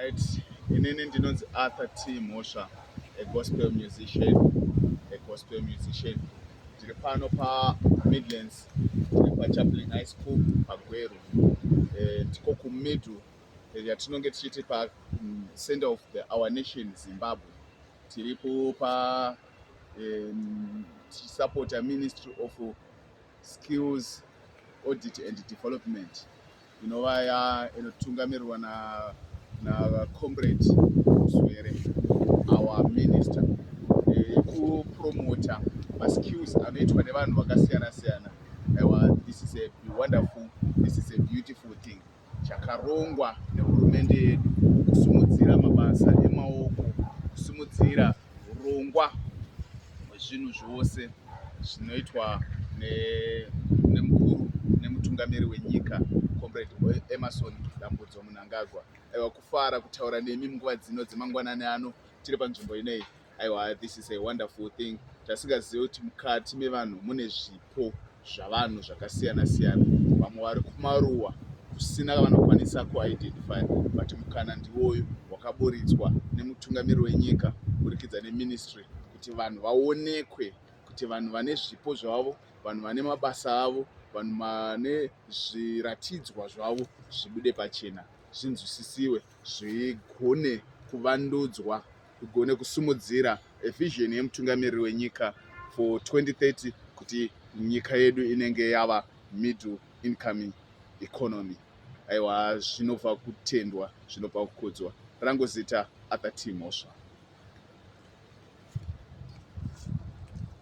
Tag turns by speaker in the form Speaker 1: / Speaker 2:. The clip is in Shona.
Speaker 1: Right, inini ndinonzi Arthur T Mhosva, a gospel musician, a gospel musician. Ndiri pano pa Midlands, ndiri pa Chaplin High School pa Gweru. Eh, tiko ku middle eh, yatinonge tichiti pa mm, center of the our nation Zimbabwe. Tiri ku pa eh, support a ministry of skills audit and development. inova inotungamirwa na na comrade Muzwere our minister yekupromota maskills anoitwa nevanhu vakasiyana siyana aiwa this is a wonderful this is a beautiful thing chakarongwa nehurumende yedu kusimudzira mabasa emaoko kusimudzira hurongwa hwezvinhu zvose zvinoitwa nemukuru nemutungamiri wenyika comrade emerson dambudzo munangagwa aiwa kufara kutaura nemi munguva dzino dzemangwanani ano tiri panzvimbo inei aiwa this is a wonderful thing tasingazive kuti mukati mevanhu mune zvipi zviriko zvavanhu zvakasiyana siyana vamwe vari kumaruwa kusina kavanokwanisa kuidentify but mukana ndiwoyo wakaburitswa nemutungamiri wenyika kuburikidza neministry kuti vanhu vaonekwe kuti vanhu vane zvipo zvavo vanhu vane mabasa avo vanhu vane zviratidzwa zvavo zvibude pachena zvinzwisisiwe zvigone kuvandudzwa ugone kusimudzira vision yemutungamiriri wenyika for 2030 kuti nyika yedu inenge yava middle incoming economy aiwa zvinobva kutendwa zvinobva kukudzwa rangu zita arthur t mhosva